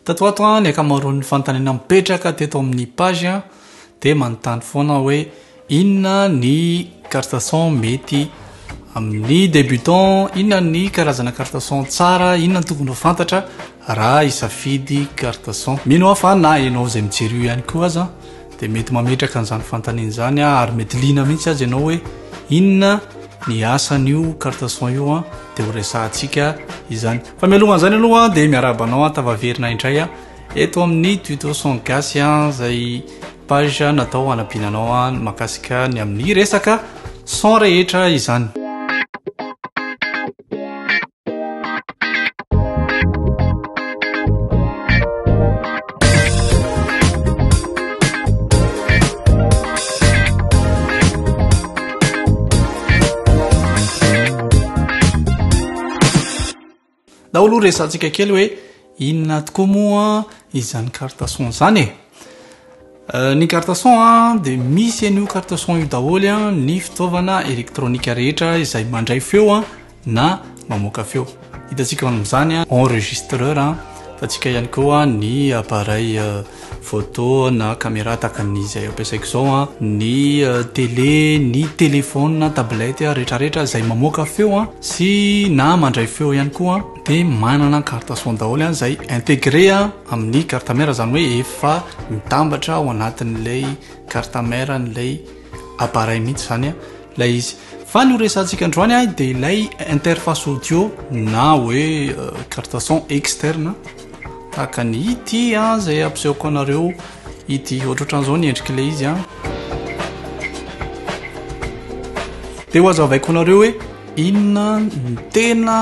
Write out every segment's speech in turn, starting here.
Tato ato ny ankamaroan'ny fanontaniana mipetraka teto amin'ny page dia manontany foana hoe inona ny carte son mety amin'ny débutant, inona ny karazana carte son tsara, inona ny tokony ho fantatra raha hisafidy carte son. Mino aho fa na ianao izay mijery io ihany koa aza dia mety mametraka an'izany fanontaniana izany ary mety liana mihitsy aza ianao hoe inona ny asan'io carte son io dia ho resahantsika izany. Fa mialoha an'izany aloha dia miarahaba anao an tafaverina indray a eto amin'ny tuto son gasy a izay page natao hanabiana anao a makasika ny amin'ny resaka son rehetra izany nao aloha resantsika kely hoe inona tokoa moa izany cartason zany e euh, ny cartason a de misy an'io cartason io daholo a ny fitaovana elektronika rehetra izay mandray feo a na mamoaka feo. Hitantsika amin'izany enregistreur hitantsika ihany koa ny appareil photo na caméra tahaka ny izay ampiasaiko izao, ny télé, ny téléphone, tablette rehetrarehetra izay mamoaka feo sy na mandray feo ihany koa dia manana carte son daholo izay intégré amin'ny carte mère izany hoe efa mitambatra ao anatin'ilay carte mère an'ilay appareil mihitsy izany. Ilay izy. Fa ny ho resahantsika androany ahy dia ilay interface audio na hoe carte son externe tahaka ny ity an izay ampisehoko anareo ity ohatrohatran'izao ny endrik'ilay izy an. Dia ho azavaiko anareo hoe inona ny tena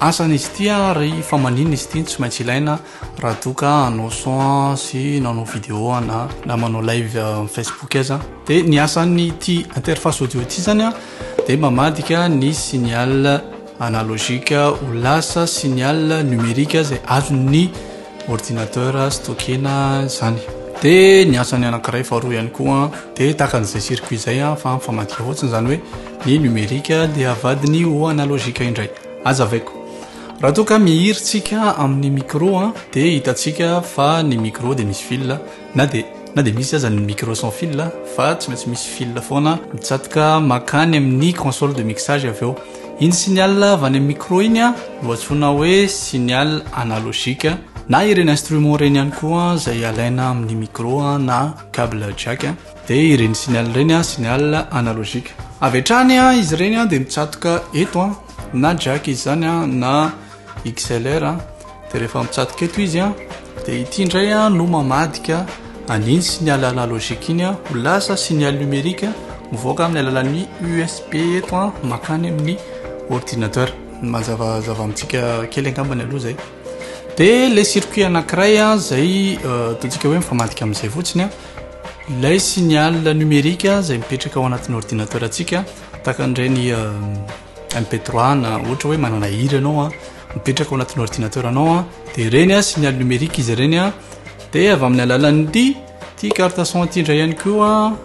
asan'izy ity ary fa maninona izy ity no tsy maintsy ilaina Raha toa ka hanao son sy nanao video na na manao live amin'ny Facebook aza dia ny asan'ity interface audio ity zany a dia mamadika ny signal analogique ho lasa signal numérique izay azon'ny ordinateur stockena izany dia ny asan'ny anankiray faharoa ihany koa dia tahaka an'izay circuit izay a fa mifamadika fotsiny izany hoe ny numérique dia avadiny ho analogique indray aza avaiko Raha toa ka mihira tsika amin'ny micro an, dia hitantsika fa ny micro dia misy fil na dia na dia misy aza ny micro sans fil fa tsy maintsy misy fil foana mitsatoka makany amin'ny console de mixage avy eo. Iny signal avy any amin'ny micro iny an no antsoina hoe signal analogique na ireny instrument ireny ihany koa izay alaina amin'ny micro na cable jack dia ireny signal ireny an signal analogique. Avy hatrany an izy ireny dia mitsatoka eto an. na jack izy zany an na XLR an dia rehefa mitsatoka eto izy an dia ity indray an no mamadika an'iny signal analogique iny an ho lasa signal numérique mivoaka amin'ny alalan'ny USB eto an makany amin'ny ordinateur ny mazavazava amintsika kely angambany aloha zay dia le circuit anankiray an zay ataontsika hoe mifamadika amin'izay fotsiny an ilay signal numérique zay mipetraka ao anatin'ny ordinateur antsika Tahaka an'ireny MP3 na ohatra hoe manana hira ianao an, mipetraka ao anatin'ny ordinateur anao an, dia ireny an signal numérique izy ireny an, dia avy amin'ny alalan'ity ity carte son ity indray ihany koa an,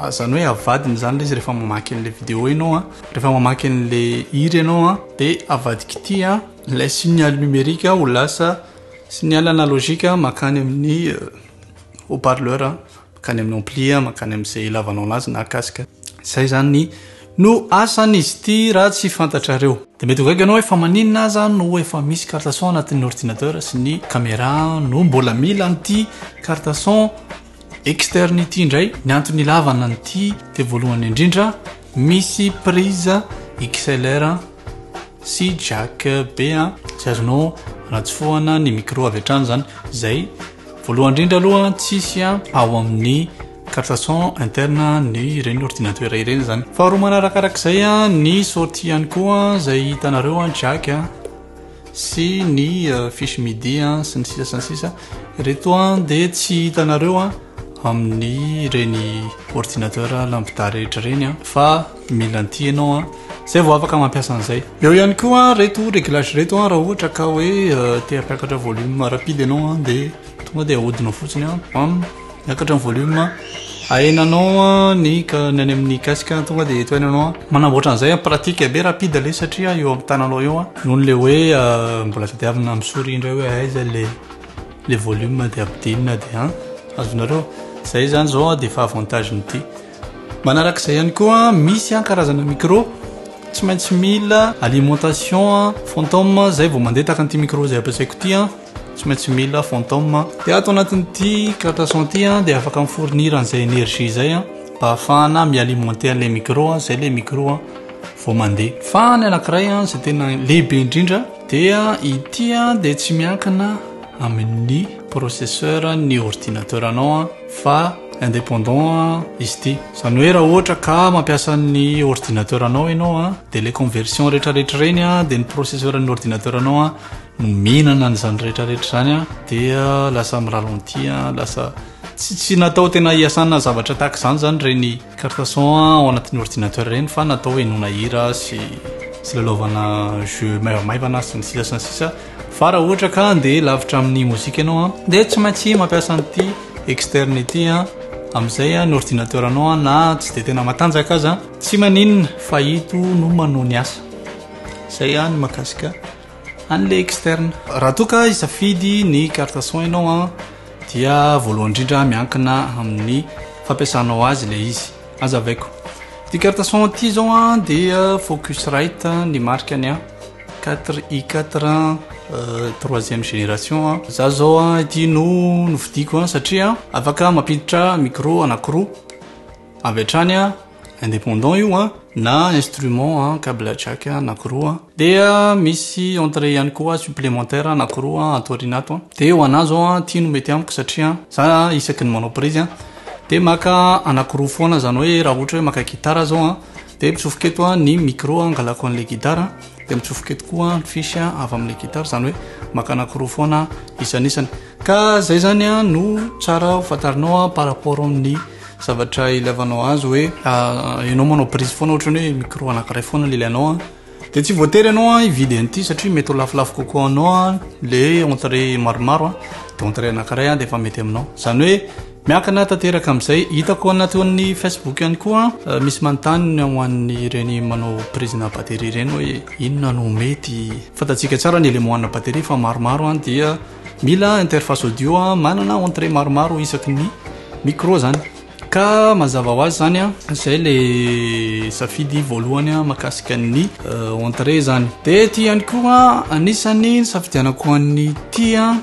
izany hoe avadiny izany ilay izy rehefa mamaky an'ilay vidéo ianao an, rehefa mamaky an'ilay hira ianao an, dia avadika ity an ilay signal numérique ho lasa signal analogique mankany amin'ny haut parleur. mankany amin'ny ampli a, mankany amin'izay ilavanao anazy na casque. Izay izany no asan'izy ity raha tsy fantatrareo. Dia mety ho gaga ianao hoe fa maninona aza no efa misy carte son anatin'ny ordinateur sy ny camera no mbola mila an'ity carte son externe ity indray? Ny antony ilavana an'ity dia voalohany indrindra misy prise XLR sy jack be izay azonao anatsofohana ny micro avy hatrany izany izay Voalohany indrindra aloha tsisy a ao amin'ny carte son interne ny ireny ordinateur ireny zany faharoa manarakarak'izay a ny sortie ihany koa zay hitanareo a jack a sy ny euh, fiche midi a sy ny sisa sy ny sisa reto a de tsy hitanareo a amin'ny ireny ordinateur lampidary rehetra ireny a fa Mila an'ity ianao an, zay vao afaka mampiasa an'izay. Eo ihany koa reto réglage reto an, raha ohatra ka hoe te hampiakatra volume rapide ianao an, dia tonga dia ahodinao fotsiny an, bam, miakatra ny volume, ahenanao an ny ny any amin'ny casque an, tonga dia eto hainanao an, manamboatra an'izay an, pratique be rapide le satria eo amin'ny tananao eo an, noho le hoe mbola tadiavina amin'ny souris indray hoe aiza le le volume dia ampidinina dia an, azonareo, zay zany zao dia efa avantage-n'ity. Manaraka izay ihany koa misy an karazana micro tsy maintsy mila alimentation an fantôme an izay vao mandeha tahaka an'ity micro izay ampiasaiko ity an tsy maintsy mila fantôme an dia ato anatin'ity carte son ity an dia afaka mi-fournir an'izay énergie izay an mba hahafahana mi-alimenter an'ilay micro an izay ilay micro an vao mandeha fa ny anankiray an izay tena lehibe indrindra dia ity an dia tsy miankina amin'ny processeur ny ordinateur anao an fa indépendant izy ity izany hoe raha ohatra ka mampiasa ny ordinateur anao ianao a dia ilay conversion rehetrarehetra ireny a dia ny processeur ny ordinateur anao a no mihinana an'izany rehetrarehetra izany a dia lasa mi ralenti a lasa tsy tsy natao tena hiasana zavatra tahaka izany izany ireny carte son a ao anatin'ny ordinateur ireny fa natao henoina hira sy sy lalaovana jeux maivamaivana sy ny sisa sy ny sisa Fa raha ohatra ka handeha lavitra amin'ny mozika ianao an, dia tsy maintsy mampiasa an'ity externe ity an, amin'izay an, ny ordinateur anao an, na tsy dia tena matanjaka aza an, tsy maninona fa ito no manao ny asa. Izay an, ny mahakasika an'ilay externe. Raha toa ka hisafidy ny carte son ianao an, dia voalohany indrindra miankina amin'ny fampiasanao azy ilay izy. Aza avaiko. Ity carte son ity izao an, dia Focusrite ny marikany an. Quatre i quatre an troisième génération an za zao an ity no novidiko an satria afaka mampiditra micro anakiroa avy hatrany an indépendant io an na instrument an cable jack anakiroa dia misy entrée ihany koa supplémentaire anakiroa an ato aoriana ato an dia ho anah zao an ity no mety amiko satria za isaky ny manao prise an dia maka anakiroa foana zany hoe raha ohatra hoe maka gitara zao an Dia mitsofoka eto ny micro hangalako an'ilay gitara, dia mitsofoka eto koa ny fiche avy amin'ilay gitara, izany hoe maka anankiroa foana isanisany. Ka izay izany no tsara ho fantarinao par rapport amin'ny zavatra ilaivanao azy hoe ianao manao prise foana ohatrany hoe micro anankiray foana no ilainao. Dia tsy voatery ianao hividy an'ity satria mety ho lafolafo kokoa anao ilay hoe entrée maromaro a, dia entrée anankiray a dia efa mety aminao. Izany hoe miankina tanteraka amin'izay. Hitako anaty ao amin'ny Facebook ihany koa misy manontany ny ho an'ireny manao prise ana batterie ireny hoe inona no mety. Fantatsika tsara ny éléments ana batterie fa maromaro a dia mila interface audio manana entrée maromaro isaky ny micro izany. Ka mazava ho azy zany an, zay le safidy voalohany an makasika ny entrée zany. De ity ihany koa anisany nisafidianako an'ity an,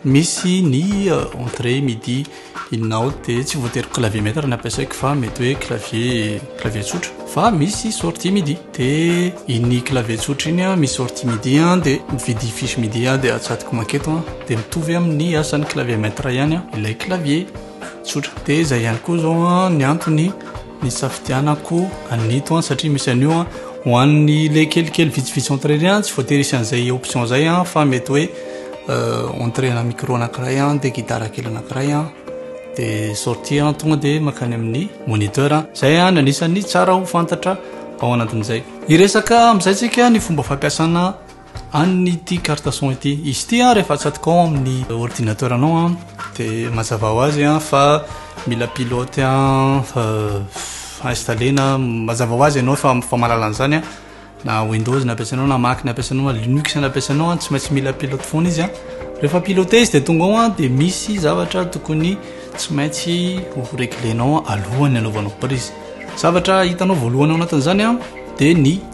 misy ny entrée midi inona ao de tsy voatery clavier maitre no ampiasaiko fa mety hoe clavier clavier tsotra fa misy sortie midi de iny clavier tsotra iny an misy sortie midi an de mividy fiche midi aho de atsatoko maketo an de mitovy amin'ny asan'ny clavier maitre ihany an ilay clavier. Tsotra. Dia izay ihany koa izao ny antony nisafidianako an'ito satria misy an'io ho an'ny le kelikely vitsivitsy entrée ireny tsy voatery hisy an'izay option izay fa mety hoe euh, entrée na micro anankiray dia gitara kely anankiray dia sortie tonga dia makany amin'ny moniteur. Izay ny anisan'ny tsara ho fantatra ao anatin'izay. Hiresaka amin'izay tsika ny fomba fampiasana Any ity carte son ity. Izy ity an rehefa atsatoka ao amin'ny ordinateur anao an dia mazava ho azy an fa mila pilote an fa installena mazava ho azy ianao fa fa mahalala an'izany an na windows no ampiasainao na mac no ampiasainao na linux no ampiasainao an tsy maintsy mila pilote foana izy an rehefa pilote izy dia tonga ao an dia misy zavatra tokony tsy maintsy ho reglenao alohan'ny anaovanao prise zavatra hitanao voalohany ao anatin'izany an dia ny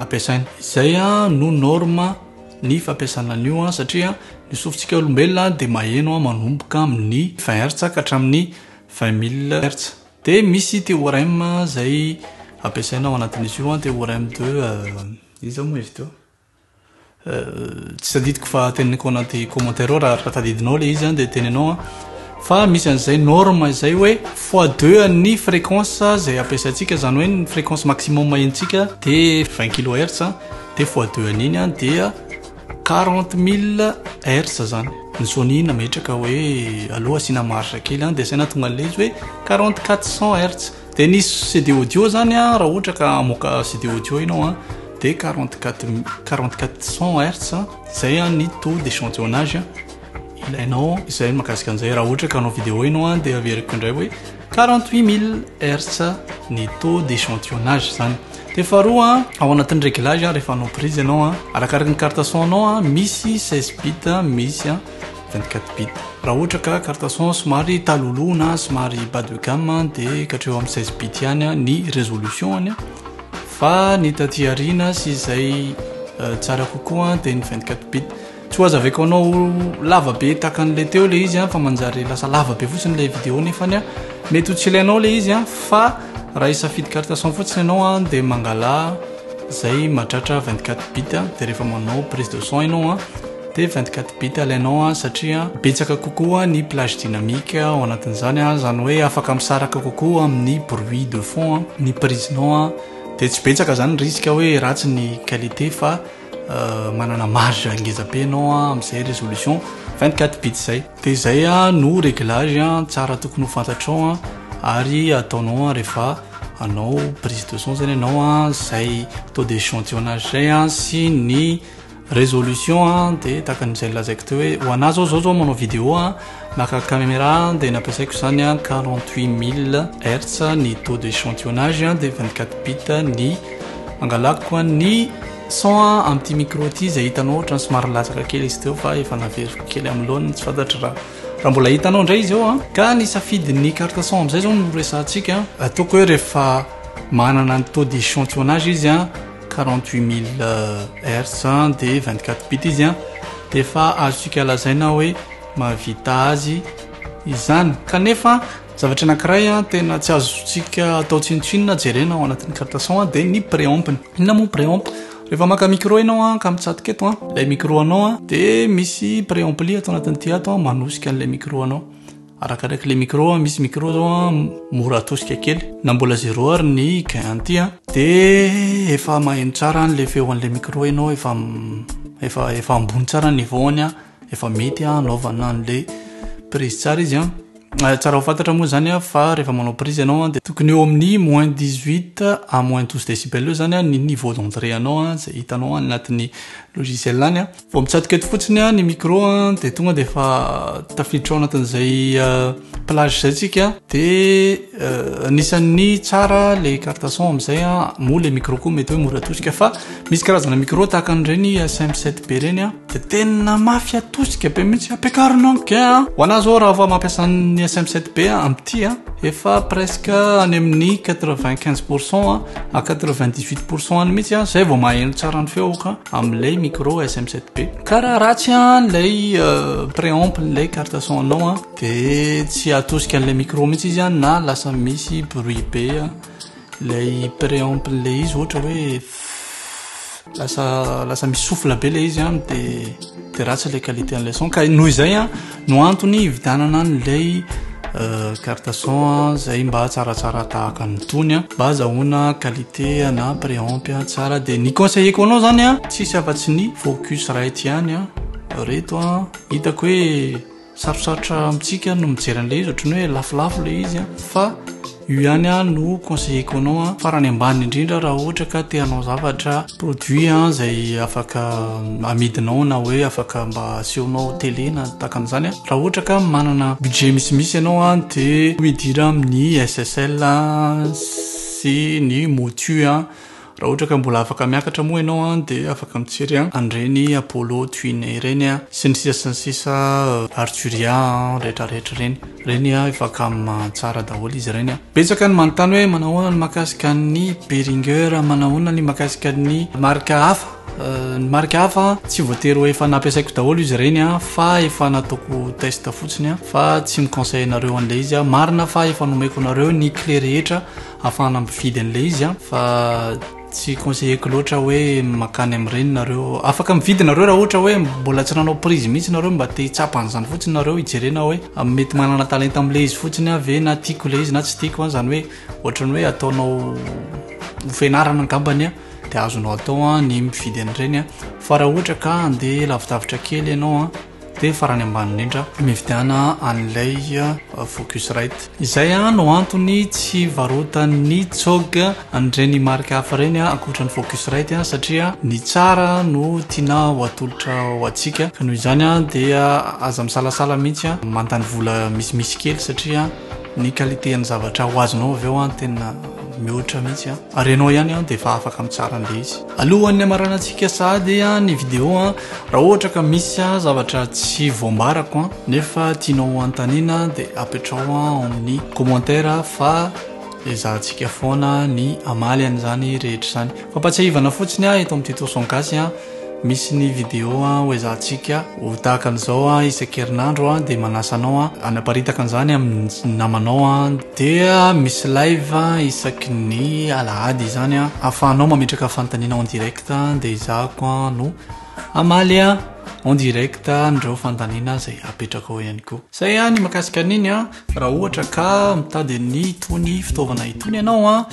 ampiasaina. Izay no norme ny fampiasana an'io satria ny sofintsika olombelona dia maheno manomboka amin'ny 20 hertz ka hatramin'ny 20 mille hertz. Dia misy théorème izay ampiasaina ao anatin'izy io, théorème de, iza moa izy teo? Tsy tadidiko fa teneniko anaty commentaire ao raha tadidinao le izy dia tenenao an fa misy an'izay norme izay hoe fois deux an'ny fréquence izay ampiasaintsika izany hoe ny fréquence maximum henontsika dia vingt kilohertz dia fois deux an'iny an dia quarante mille hertz izany ny sony nametraka hoe aloha asiana marge kely an dia asaina tonga an'ilay izy hoe quarante quatre cent hertz Dia ny CD audio zany a, raha ohatra ka hamoaka CD audio ianao a, dia quarante quatre mi- quarante quatre cent hertz a, izay a ny taux d'échantillonnage a ilainao. Izay ny mahakasika an'izay. Raha ohatra ka hanao vidéo ianao a, dia averiko indray hoe quarante huit mille hertz a ny taux d'échantillonnage izany. Dia faharoa a, ao anatin'ny réglage a, rehefa hanao prise ianao a, arakaraka ny carte son-nao a, misy seize bits a, misy a. 24 bit. Raha ohatra ka carte son somary taloloha na somary bas de gamme dia katreo amin'ny 16 bit ihany ny résolution-ny fa ny taty aoriana sy izay euh, tsara kokoa dia ny 24 bit. Tsy ho azaveko anao lava be tahaka an'ilay teo ilay izy fa manjary lasa lava be fotsiny ilay vidéo nefa ny mety ho tsy ilainao ilay izy fa raha hisafidy carte son fotsiny ianao dia mangala izay mahatratra 24 bit dia rehefa manao prise de son ianao dia vingt quatre bits alainao an satria betsaka kokoa ny plage dynamique ao anatin'izany an izany hoe afaka misaraka kokoa amin'ny bruit de fond an ny prisenao an dia tsy betsaka izany ny risque hoe ratsy ny qualité fa manana marge ngeza be ianao an amin'izay résolution vingt quatre bits izay dia izay an no réglage an tsara tokony ho fantatrao an ary ataonao an rehefa hanao prise de son izany ianao an izay taux d'échantillonnage izay an sy ny Résolution a dia tahaka ny izay nolazaiko teo hoe ho anà zao zao zao manao vidéo a maka caméra dia nampiasaiko izany a quarante huit mille hertz ny taux de échantillonnage a dia vingt quatre bit ny angalako a ny son a amin'ity micro ity izay hitanao ohatran'ny somary nilatsaka kely izy teo fa efa naveriko kely amin'ny laoniny tsy fantatro raha raha mbola hitanao indray izy eo a ka ny safidin'ny carte son amin'izay zao no resahantsika ataoko hoe rehefa manana ny taux de échantillonnage izy a Quarante-huit mille hertz dia vingt-quatre bits izy an, dia efa azontsika lazaina hoe mahavita azy izany. Kanefa zavatra anankiray an tena tsy azontsika atao tsinontsinona jerena ao anatin'ny carte son an dia ny préamp-ny. Inona moa préamp? Rehefa maka micro ianao an ka mitsatoka eto an ilay micro anao an dia misy préampli ato anatin'ity ato an manosika an'ilay micro anao. Arakaraka le micro a, misy micro zao a mora atosika kely na mbola zero ary ny gain an'ity a de efa maheno tsara an'le feo an'le micro enao efa efa efa ambony tsara ny niveau-ny a efa mety a anaovana an'le prise tsara izy a ah, tsara ho fantatra moa zany a fa rehefa manao prise ianao a de tokony eo amin'ny moins 18 à moins 12 decibel eo zany a ny niveau d'entrée anao a zay hitanao any anatin'ny logiciel any a Vao mitsatoka eto fotsiny an ny micro an dia tonga dia efa tafiditra ao anatin'izay plage izay tsika dia anisan'ny tsara le carte son amin'izay an moa le micro koa mety hoe mora atosika fa misy karazana micro tahaka an'ireny SM7 be ireny an dia tena mafy atosika be mihitsy ampiakarina en gain an ho anà zao raha vao mampiasa ny SM7 be an amin'ity an efa presque any amin'ny 95 pourcent à 98 pourcent any mihitsy an izay vao maheno tsara ny feoko an Amlay micro SM 7B. Ka raha ratsy an lay préamp lay carte son anao an de tsy atosika an'ilay micro mihitsy izy an na lasa misy bruit be an lay préamp lay izy ohatra hoe lasa lasa misy souffle be lay izy an de de ratsy lay qualité an'ilay son ka noho izay an No antony hividianana an'ilay carte son izay mba tsaratsara tahaka ny tony mba azahoana qualité na préampy tsara dia ny conseilleko anao zany a tsisy afa-tsy ny focus right ihany a reto a hitako hoe sarosarotra amintsika no mijery an'ilay izy ohatran'ny hoe lafolafo ilay izy a fa Io ihany ah no conseilleko anao ah farany ambany indrindra raha ohatra ka te hanao zavatra produit ah izay afaka amidinao na hoe afaka mba asehonao télé na takan'izany ah raha ohatra ka manana budget misimisy ianao ah de midira amin'ny SSL sy ny motu ah Raha ohatra ka mbola afaka miakatra moa ianao an dia afaka mijery an an'ireny Apollo Twine ireny an sy ny sisa sy ny sisa Arturia an rehetra rehetra ireny. Ireny an efa cam tsara daholo izy ireny an. Betsaka ny manontany hoe manao ahoana ny mahakasika an'ny Behringer, manao ahoana ny mahakasika ny marika hafa. Ny marika hafa an tsy voatery ho efa nampiasaiko daholo izy ireny an fa efa nataoko test fotsiny an fa tsy mi-conseille anareo an'ilay izy an. Marina fa efa nomeko anareo ny clé rehetra. Afahana mividy an'ilay izy an. Fa tsy conseilleko loatra hoe makany amin'ireny nareo. Afaka mividy nareo raha ohatra hoe mbola tsy nanao prise mihitsy nareo mba te hitsapa an'izany fotsiny nareo hijerena hoe mety manana talenta amin'ilay izy fotsiny aho ve na tiako ilay izy na tsy tiako an. Izany hoe ohatran'ny hoe ataonao ho fianarana angambany an. Dia azonao atao an ny mividy an'ireny an. Fa raha ohatra ka handeha lavidavitra kely ianao an. Dia farany ambany indrindra, mividiana an'ilay Focusrite. Izay no antony tsy varotan'ny cog an'ireny marika hafa ireny ankoatra ny Focusrite satria ny tsara no tiana ho atolotra ho antsika. Ka noho izany dia aza misalasala mihitsy mandany vola misimisy kely satria ny qualité an'ny zavatra ho azonao avy eo tena mihoatra mihitsy. Ary ianao ihany dia efa afaka mitsara an'ilay izy. Alohan'ny hamaranantsika sahady ny video an, raha ohatra ka misy zavatra tsy voambarako an, nefa tianao ho anontaniana dia apetraho ao amin'ny commentaire fa ezahantsika foana ny hamaly an'izany rehetra izany. Fampatsiahivana fotsiny an, eto amin'ity Toson Gasy an, misy ny video an ho ezahantsika ho tahaka an'izao an isan-kerinandro an, dia manasa anao an hanaparitaka an'izany amin'ny namanao an. Dia misy live isaky ny alahady izany an, ahafahanao mametraka fanontaniana en direct dia ezahako an no hamaly an en direct an'ireo fanontaniana izay apetrakao ihany koa. Izay an ny makasika an'iny an, raha ohatra ka mitady an'itony fitaovana itony ianao an,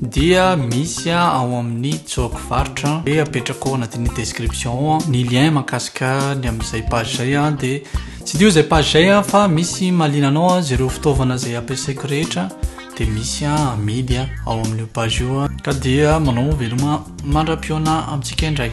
dia misy ao amin'ny joke varotra dia apetrakao anatin'ny description ao ny lien mankasika ny amin'izay page izay a dia tsy dio izay page izay a fa misy malina anao a zereo fitaovana izay ampiasaiko rehetra dia misy a amidy a ao amin'io page io a ka dia manao veloma mandra-pihaona amintsika indray